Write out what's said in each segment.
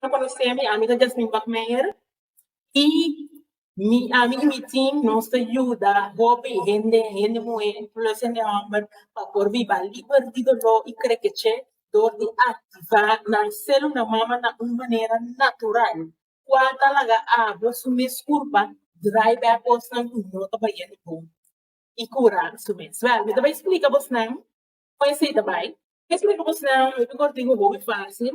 no conoce'mi, ami ta Jasmine Bakmeijer y mi, ami y mi team nos ta yuda hopi hende, hende muher plus hende homber pa por biba liber di dolor y krekeche dor di activa nan celula mama na un manera natural qua ta laga awo su mes curpa dry bay cosnan cu no ta bayendo bon y cura su mes. Wel mi ta bay splica bosnan con esey ta bay, mi ta bay splica bosnan hopi cortico, hopi facil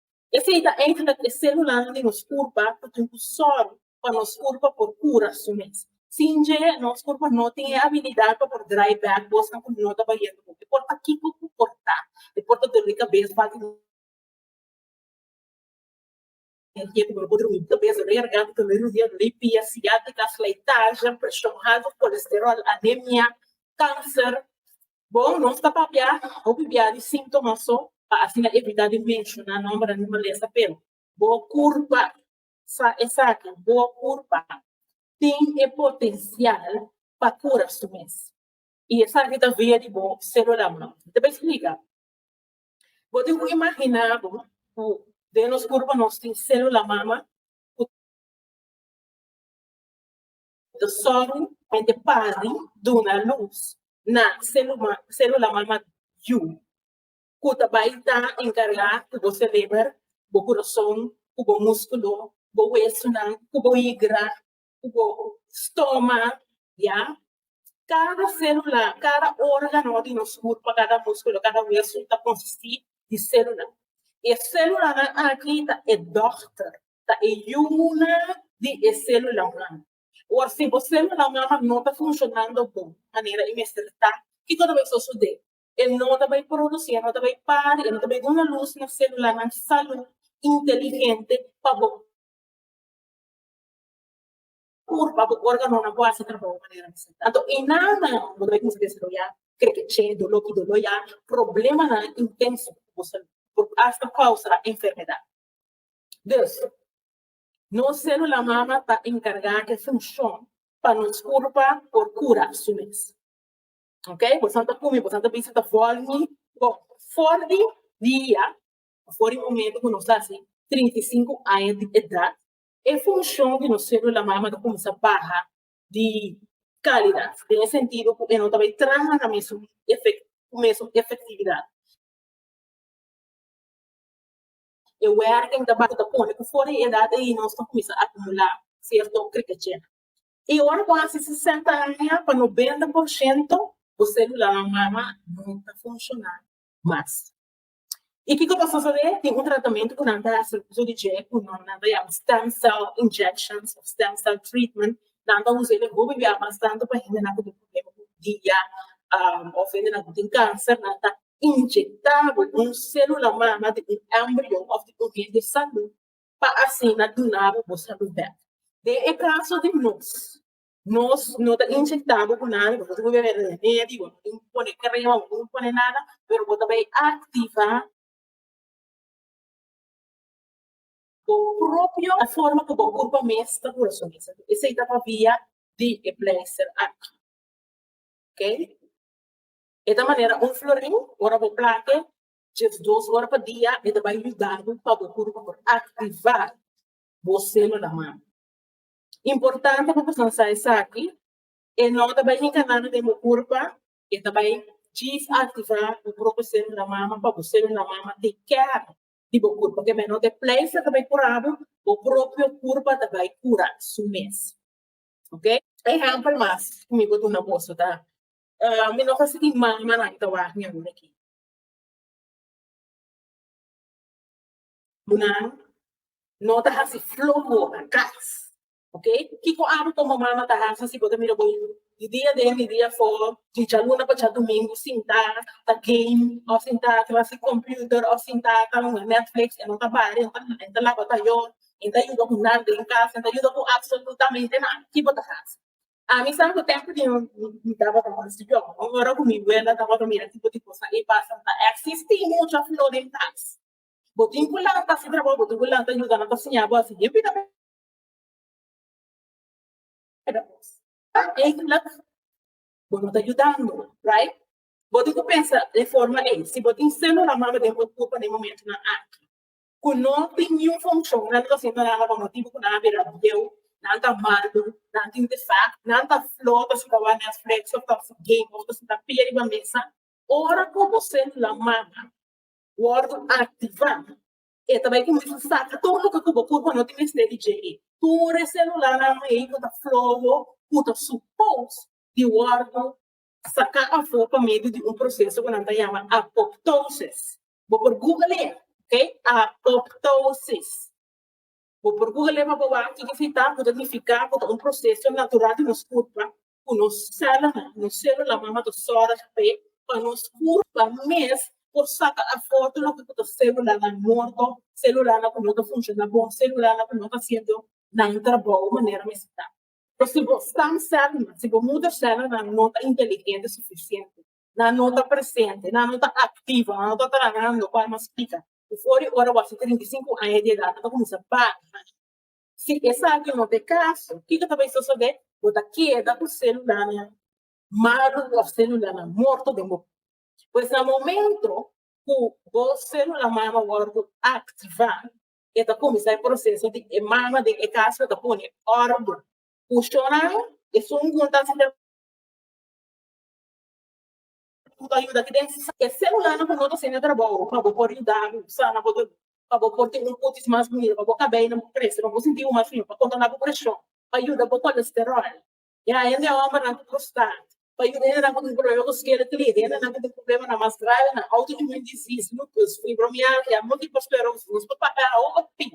Esei ta eindelijk e celulan di nos curpa cu tin cu sor pa nos curpa por cura su mes. Sin dje, nos curpa no tin e abilidad pa por draai back cosnan cu no ta bahiendo bon. E por ta kico cu por ta, e por ta doli cabes bal di energia cu no por drumi, cabes doli, garganta doli, rodilla doli, pia sciatica, slijtage, presion halto, colesterol, anemia, cancer. Bon, nos ta papia hopi bia di sintomas so pa asina evita di menshona nombernan di malesa, pero bo kurpa sa esaki, bo kurpa tin e potensial pa kura su mes i esaki ta via di bo selulanan. Ta bai splika, bo tin ku imaginá bo ku den nos kurpa nos tin selula mama ku. Ta sorry mente pari duna luz na celuma celula mama yu cu ta bay ta encarga cu bo cereber bo curason cu bo musculo bo huesonan cu bo higra cu bo stoma ya cada celula cada organo di nos curpa cada musculo cada hueso ta consisti di celula y e celulanan aki ta e doctor ta e yuna di e celulanan. Awor si bo celulanan no ta funcionando bon manera e mester ta, kico ta bay sosode? E no ta bay produci, e no ta bay pari, e no ta bay duna luz na celulanan salu inteligente pa bo pa bo organonan por haci trabaho manera mester ta. Anto e nana bo ta bay cuminsa desaroya crekeche, dolo cu dolo ya, problemanan intenso cu bo salu, por hasta causa enfermedad. Dus, nos célula mama ta encargá cu e funcion pa nos curpa por cura su mes. Ok, bosan ta cumi, bosan ta bisa, ta vormi bo for di dia, for di momento cu nos ta haci trinta i sinku aña di edad, e funcion di nos célula mama ta cuminsa baha di calidad, den e sentido cu e no ta bay traha na mesun efectividad. e werken ta bata ta pone ku for di edat ei nos ta kuminsá akumulá sierto krikachel. I ora bo hasi sesenta aña pa nobenta por shento bo sélulanan mama no ta funshoná mas. I kiko ta sosodé? Tin un tratamentu ku nan ta hasi uso di dje ku nan ta yama stem cell injections òf stem cell treatment. Nan ta usa e den hopi bia bastante pa hendenan ku tin prublema ku dia òf hendenan ku tin kanser nan ta inyectá bo un célula mama di un embrion òf di un hende salú pa asina duna bo bo salú bèk. Den e kaso di nos, nos no ta inyectá bo ku nada, bo no ta por bebe remedi, bo no tin pone crema, bo no tin pone nada, pero bo ta bai activá bo propio na forma ku bo kurpa mes ta por resonesa. Esei ta pa via di e plèster aki. Ok. E ta manera un floriu, ora bo plant'e djes dos ora pa dia e ta bai yuda bo pa bo puru por aktiva bo selulanan. Importante pa boso a sa esaki, e no ta bai hinka nada den bo kurpa, e ta bai djis aktiva bo propi selula mama pa bo selula mama take care di bo kurpa, ke meno te pleistra ta bai kura bo, bo propio kurpa ta bai kura su mes. Ok. Ehempel mas ku mi por duna boso ta Ah, mi no ta sinti mal ma nan ta wak mi awor aki. Nan no ta hasi flo boka, kras, ok? Kiko abo ku mama no ta hasi si bo ta mira bo yu di dia den, di dia for, di djaluna pa djaldumingu sinta ta game òf sinta ta hasi kòmpiuter òf sinta ta hunga nètflix e no ta bari, e no ta nada, e ta laba tayò, e ta yuda ku nada den kas, e ta yuda ku apsolutamente nada? Ki bo ta hasi? A mi sa cu tempo di un mi tabata mas young y ora cu mi wenda tabata mira tipo di cosa ey pasa ta existi mucha flor den cas. Bo tin cu lanta ta haci trabajo, bo tin cu lanta ta yudanan ta siña bo haci bien bida bida cos. Ey cu la bo no ta yudando right. Bo tin cu pensa den forma ey si bo tin celulanan maba den bo tur pa den momentonan aki. ku no tin niun fonshon, nan ta hasi parada pa motibu ku nan a bira bieu, nan ta malu, nan tin defèkt, nan ta fló, ta sita wak Netflix òf ta si game òf ta sita pia riba mesa. Ora ku bo selula mama wòrdu aktivá, e ta bai kuminsá saka tur loke ku bo por pa no tin mester di JE. Tur e selulanan ei ku ta fló bo, ku ta supos di wòrdu saká afó pa medio di un proseso ku nan ta yama apoptosis, Bo por google'a, ok? Apoptosis. Bo por google'a pa bo wak kiko sita, ku ta nifiká ku ta un proseso natural di nos kurpa, ku nos sèlulanan, nos sélulanan mama ta sòrg p'e, pa nos kurpa mes por saka afortu loke ku ta sélulanan morto, sélulanan ku no ta funshoná bon, sélulanan ku no ta hasiendo nan trabou manera mester ta. Pues si bo stamsèlnan, si bo mudersèlnan no ta inteligente sufisiente, nan no ta presente, nan no ta activo, nan no ta trahando pa nos pica. Before di ora bo hasi trinta i sinku aña di edad bo ta cuminsa baña. Si esaki no ta e caso, kiko ta bay sosode? Bo ta keda cu celulanan malu of celulanan morto den bo mano. Pues na momento cu bo celulan mano a wordo activa, e ta cuminsa e proceso di e mama den e casa ta pone orden. Cu shonnan esun junta si. Cu ta yuda ki den e celulanan cu no ta sende tra bo pa bo por yuda bo sana bo dolor, pa bo por tin un cutis mas bunido, pa bo cabeynan por crece, pa bo sinti bo mas fin, pa controla bo presion, pa yuda bo colesterol. E haya den hombernan cu prostate, pa yuda hendenan cu tin problema cu skeletlitis, hendenan cu tin problemanan mas gravenan, autoimmune disease, lupus, fibromialgia, multiple sclerosis, nos por papia awo pa tin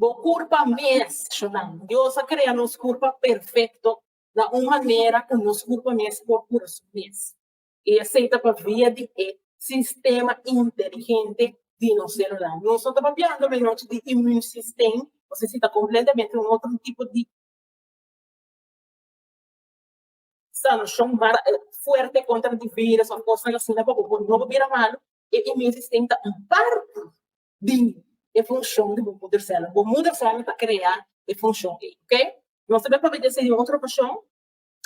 bo curpa mes, shunami. Dios a crea nos curpa perfecto. na un manera ku nos kurpo mes por kura su mes. I esei ta pa via di e sistema inteligente di nos selular. Nos no ta papiando menochi di immune system, ose si ta kompletamente un otro tipo di sanashon mara fuerte kontra di virus òf kosnan asina pa bo no bira malu. E immune system ta un parti di e funcion di bo moeder cella. Bo moeder cella ta crea e funcion ey, ok? Nos ta promet de serie otro ocashon.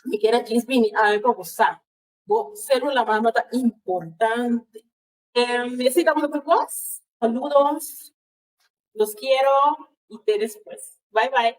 Mi quiere aquí es bini awe pa bo sa. Bo celula mama ta importante. Em, mi así damos por vos. Saludos. Los quiero. Y te después. Bye bye.